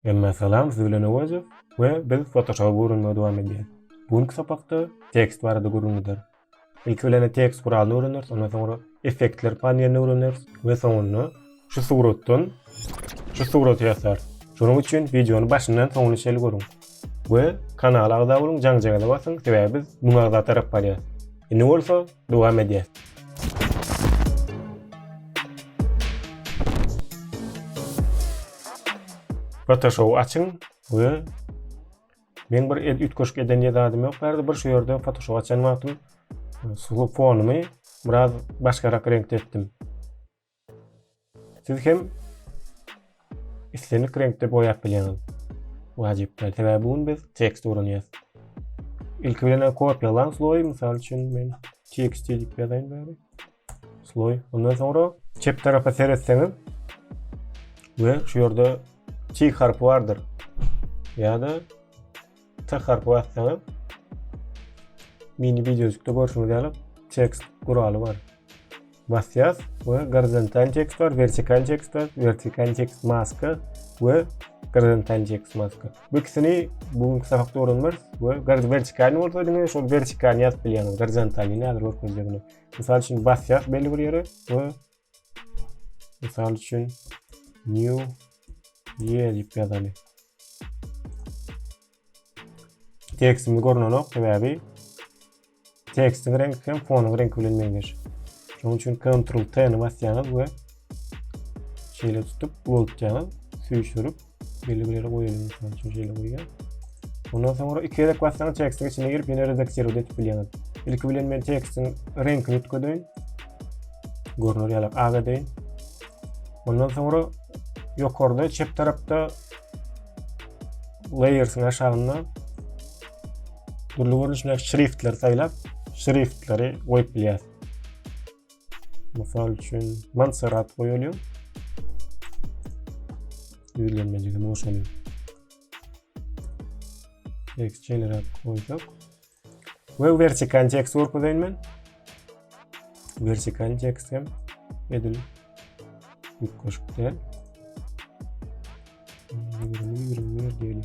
Emme salam siz bilen Öwezow we biz Photoshop öwrenmegi dowam edýäs. Bu günki sapakda tekst barada gürrüň gider. Ilki bilen tekst guralyny öwreneris, ondan soňra effektler panelini öwreneris we soňunda şu suratdan şu suraty ýasarys. Şonuň üçin wideony başyndan soňuna çenli görüň we kanala agza boluň, jaňjaňyza basyň, sebäbi biz müň agza tarap barýas. Indi bolsa Dowam edýäs. Photoshop açyň we men bir ed ütkeşik eden ýadadym ýok bärde bir şu ýerde Photoshop açan wagtym e, sulu fonumy biraz başgarak reňkde etdim. Siz hem islendik reňkde boýap bilýäňiz. Wajyp däl, sebäbi bu gün biz tekst öwrenýäs. Ilki bilen kopýalaň sloý, mysal üçin men tekst diýip ýazaýyn bäri. Sloý. Ondan soňra çep tarapa seretseňiz we şu ýerde tik harpy bardyr. Ýa-da T harpy bassaňyz mini videojukda görşüňiz ýaly tekst guraly bar. Basýas we gorizontal tekst bar, vertikal tekst bar, vertikal tekst maska we gorizontal tekst maska. Bu ikisini bugünkü sapakda öwrenmeris we vertikal bolsa diňe şol vertikalny ýazyp bilýäňiz, gorizontalny häzir görkezjek. Mysal üçin basýas belli bir ýere we Mysal üçin new year diýip ýazaly. Tekstimiz görnenok sebäbi tekstiň reňki hem fonuň reňki bilen meňzeş. Şonuň üçin Ctrl T-ni basýaňyz we şeýle tutup ulultýaňyz, süýşürip Belli bir ýere goýalyň, mysal üçin şeýle goýýan. Ondan soňra iki gezek bassaňyz tekstiň içine girip ýene redaktirowat edip bilýäňiz. Ilki bilen men tekstiň reňkini üýtgedeýin. Görner ýaly ak edeýin. Ondan soňra ýokarda çep tarapda layersyň aşagynda dürli görnüşdäki şriftleri saýlap, şriftleri goýup bilýäris. Mysal üçin Montserrat goýalýar. Düzlenmejigini boşalyň. Text generat goýsak. Ve vertikal text görkezeýin men. Vertikal text hem edil ýük goşup diýeli. 20 20 diýeli.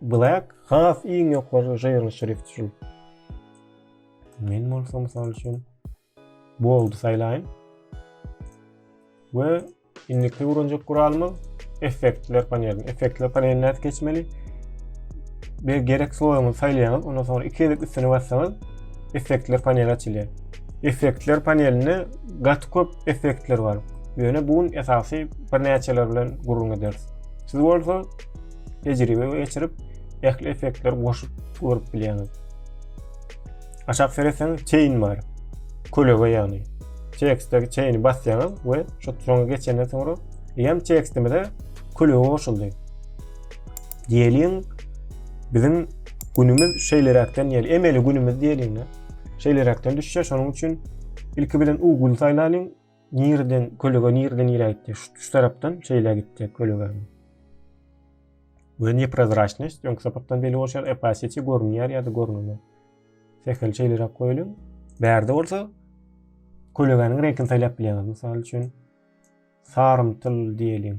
Black has iň ýokary žyrly şrift üçin. Men bolsa mysal üçin bold saýlaýyn. We indiki uranjak guralymyz effektler paneli. Effektler panelini nädip geçmeli? Bir gerek sloýuňyzy saýlaýyňyz, ondan soňra iki gezek üstüne bassaňyz effektler paneli açylýar. Effektler panelinde gaty köp effektler bar. Ýöne bu gün esasy birnäçeler bilen gürrüň ederis. Siz bolsa tejribe geçirip, ähli effektleri goşup görüp bilýäňiz. Aşak seretseň chain bar. Kölege ýagny. Tekstdäki chaini basýaňyz we şu soňa geçenden soňra hem tekstimize kölege goşuldy. Diýeliň biziň günümiz şeýleräkden ýeli emeli günümiz diýeliň. Şeýleräkden düşýär. Şonuň üçin ilki bilen Google saýlalyň. Nireden, kölege nireden iräýtdi? Şu, şu tarapdan şeýle gitdi kölege. Ve neprozraçnost, öňki sapakdan belli bolşar, opasity görünýär ýa-da görünmez. Sehel şeýleräk goýulyň. Bärde bolsa kölegäniň reňkini saýlap bilýäňiz. Mysal üçin, sarymtyl diýeliň.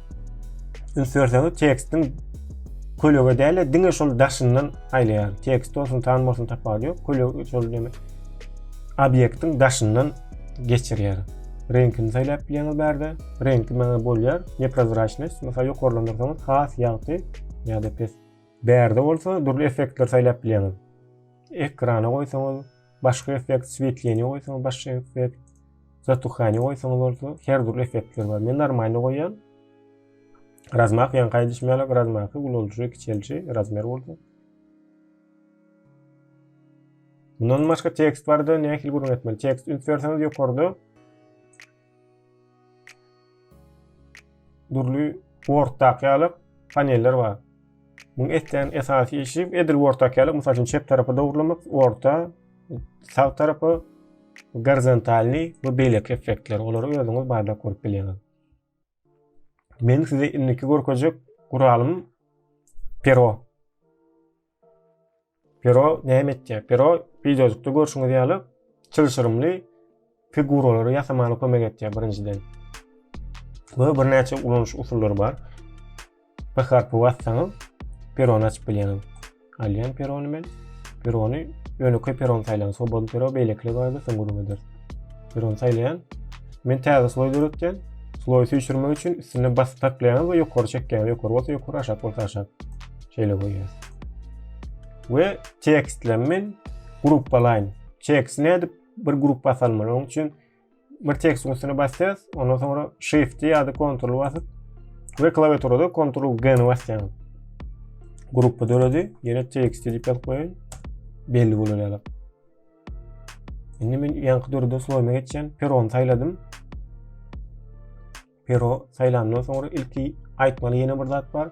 Üns berseňiz tekstiň kölege däl diňe şol daşyndan aýlaýar. Tekst bolsun, tan bolsun tapawudy ýok. Kölege şol deme. Obýektiň daşyndan geçirýär. Reňkini saýlap bilýäňiz bärde. Reňki maňa bolýar. Neprozraçnost, mysal ýokarlandyrsaňyz has ýagty ýa-da pes. Bärde bolsa dürli effektler saýlap bilýäňiz. Ekrana goýsaňyz, Başga effekt swetleniýe goýsaňyz başga effekt. Zatuhaniýe goýsaňyz bolsa her dürli effektler bar. Men normalny goýýan. Razmak ýaňky aýdyşym ýaly razmaky ulalji, kiçelji, razmer bolsa. Mundan başga tekst barda nähili gürrüň etmeli? Tekst üns berseňiz ýokarda Dürli workdaky ýaly paneller bar. Muň etýän esasy işi edil workdaky ýaly, mysal üçin çep tarapy dogurlamak, workda sag tarapy gorizontalny we beýleki effektler. Olary özüňiz barlap görüp bilýäňiz. Men size indiki görkezjek guralym pero. Pero näme etýär? Pero wideojukda görşüňiz ýaly çylşyrymly figuralary ýasamaga kömek etýär birinjiden. Bu birnäçe ulanyş usullary bar. P harpy bassaňyz perony açyp bilýäňiz. Alýan perony men. Perony ýönekeý peron saýlan, swobodny pero beýlekiler bardy, soň gürrüň ederis. Perony saýlaýan. Men täze sloý döretýän. Sloý süýşürmek üçin üstüne basyp saklaýaňyz we ýokary çekýäňiz. Ýokary bolsa ýokary, aşak bolsa aşak. Şeýle goýýas. We tekstlerini men gruppalaýyn. Tekst nädip bir gruppa salmaly? Onuň üçin bir tekstiň üstüne basýas, ondan soňra shift ýa-da ctrl basyp we klawiaturada ctrl g ni basýaň. Gruppa döredi, ýene tekst diýip ýazyp goýaýyn. Belli bolar ýaly. Indi men ýaňky döreden slowyma geçýän perony saýladym. Pero saýlandan soňra ilki aýtmaly ýene bir zat bar.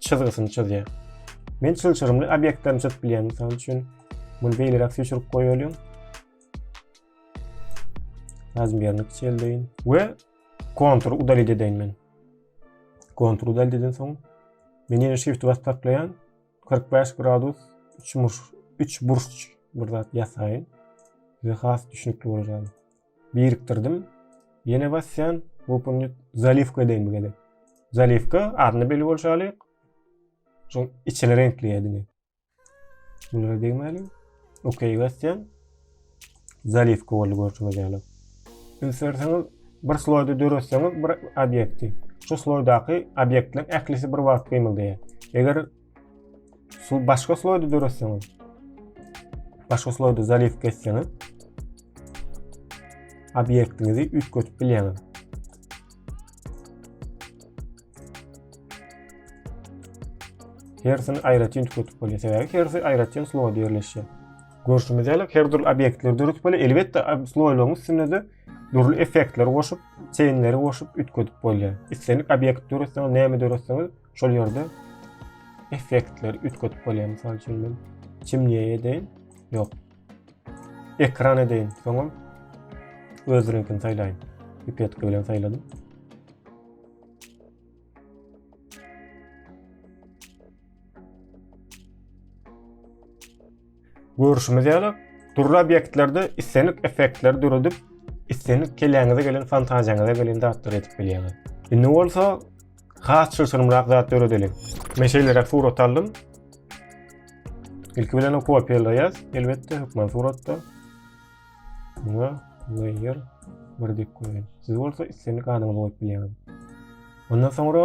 çyzgysyny çyzýar. Men çylşyrymly obýektlerini çyzyp bilýän. Mysal üçin, muny beýleräk süýşürip goýalyň. Razmýerini kiçeldeýin we kontur udalit edeýin men. Kontur udalit eden soň men ýene shift bas taklaýan 45 gradus 3 burç 3 burç bir zat ýasaýyn. Size has düşünikli bolýar. birikdirdim. Ýene basýan, open zaliwka edeýin bu gezek. Zaliwka adyny belli bolşy ýaly şu içini reňkleýädiňi. Bunlara degmäli. Okey basýan. Zaliwka boldy görşüňiz ýaly. Ünsürseňiz bir sloýda döretseňiz bir obýekti. Şu sloýdaky obýektler ählisi bir wagt gymyldaýar. Eger Şu başga sloýda döretseňiz. Başga sloýda zaliw geçseňiz. Obýektiňizi üýtgetip bilýäňiz. Hersini aýratyn üýtgetip bolýar. Sebäbi hersi aýratyn sloýda ýerleşýär. Görşümiz ýaly her dürli obýektleri döretip bolýar. Elbetde sloýlaryň üstünde de dürli effektleri goşup, çeýnleri goşup üýtgetip bolýar. Islendik obýekt döretseňiz, näme döretseňiz, Şol ýerde effektleri üýtgedip bolýar. Mysal üçin men çimniýe edeýin. Ýok. Ekran edeýin. Soňam öz reňkini saýlaýyn. Pipetki bilen saýladym. Görüşimiz ýaly, dürli obýektlerde islenik effektleri döredip, islenik keläňize gelen fantaziýaňyza gelen zatlary edip bilýäňiz. Indi bolsa has çylşyrymrak zat döredeliň. Men şeýleräk surat aldym. Ilki bilen o kopiýalaýas, elbetde hökman suratda. Muňa layer bir dip goýaýyn. Siz bolsa islenik adyňyzy goýup bilýäňiz. Ondan soňra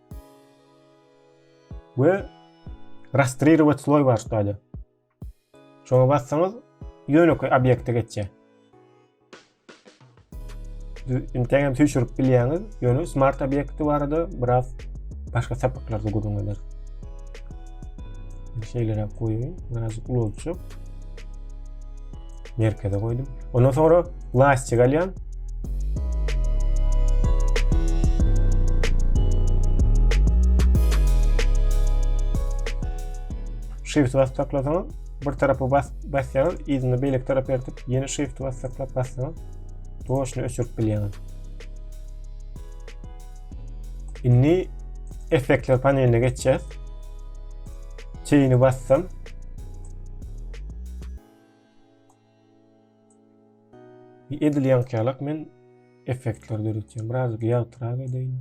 we rastririwat sloý bar şuýda. Şoňa bassaňyz ýönekeý obýekte geçýär. Inteň hem süýşürip bilýäňiz, ýöne smart obýekti barada biraz başga sapaklarda gürrüň eder. Şeýleräk goýaýyn, biraz ulaltjak. merkeze goýdum. Ondan sonra lastik alýan. Shift basıp saklasaňyz, bir tarapy bas basýaňyz, ýerine beýleki tarap ýertip, ýene shift basıp saklap bassaňyz, doşuny öçürip bilýäňiz. Indi effektler paneline geçýäs. Çeýini bassam, Edil ýaňkyýalak men effektler döretýän. Biraz ýagtyrak edeýin.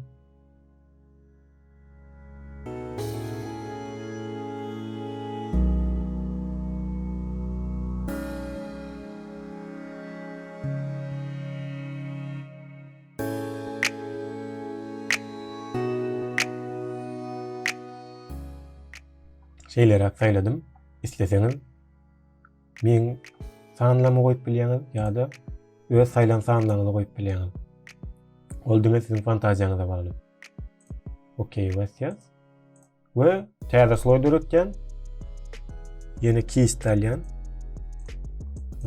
Şeýleräk saýladym. Isleseňiz Meň sanlama goýup bilýäňiz ýa-da öz saýlan sanlaryňyzy goýup bilýäňiz. Ol diňe siziň fantaziýaňyza bagly. Okey basýas. We täze sloý döretýän. Ýene kist alýan.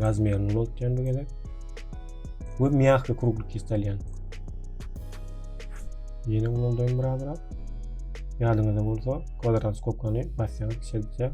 Razmerini ulultýan bu gezek. We mýahky krugly kist alýan. Ýene ululdaýyn biraz-biraz. Ýadyňyzda bolsa, kwadrat skopkany basýaňyz, şeýtse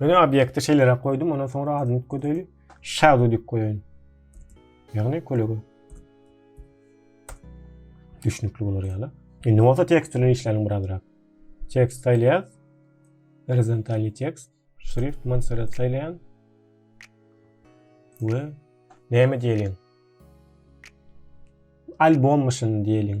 Ýöne obýekti şeýleräk goýdum, ondan soňra adyny üýtgedeli. Shadow diýip goýaýyn. Ýagny kölege. Düşnükli bolar ýaly. Indi bolsa tekst bilen işläliň birazrak. Tekst saýlaýas. Horizontalny tekst. Şrift Montserrat saýlaýan. We näme diýeliň? Albom myşyn diýeliň.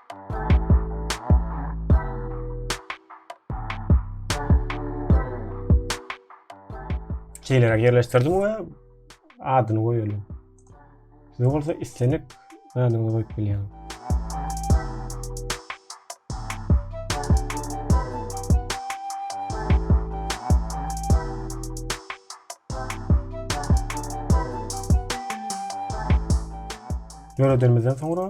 Şeýleräk ýerleşdirdim we adyny goýalyň. Siz bolsa islenik adyňyzy goýup bilýäň. Döredenimizden soňra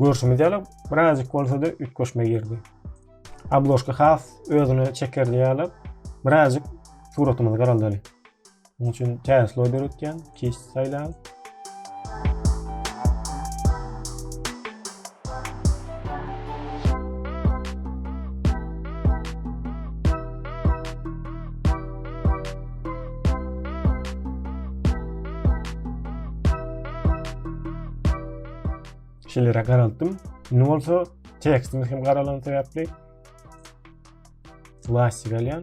Görşümiz ýaly birazjyk bolsa-da üýtgeşme girdi. Abloşka has özüne çekerli ýaly birazjyk suratymyzy garaldaly. Munuň üçin täze sloý döretýän, kis saýlan. Şeýle garaltdym. Indi bolsa tekstimiz hem garalan sebäpli plastik alýan.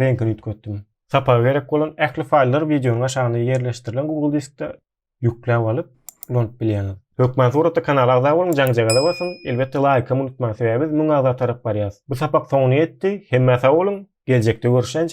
reňkini üýtgetdim. Sapaga gerek bolan ähli faýllary wideonyň aşagynda ýerleşdirilen Google diskde ýükläp alyp, ulanyp bilýäňiz. Hökman suratda kanala agza boluň, jaňjagaza basyň, elbetde laýkam unutmaň sebäbi biz müň agza tarap barýas. Bu sapak soňuna ýetdi, hemmä sag boluň, geljekde görüşýänçä!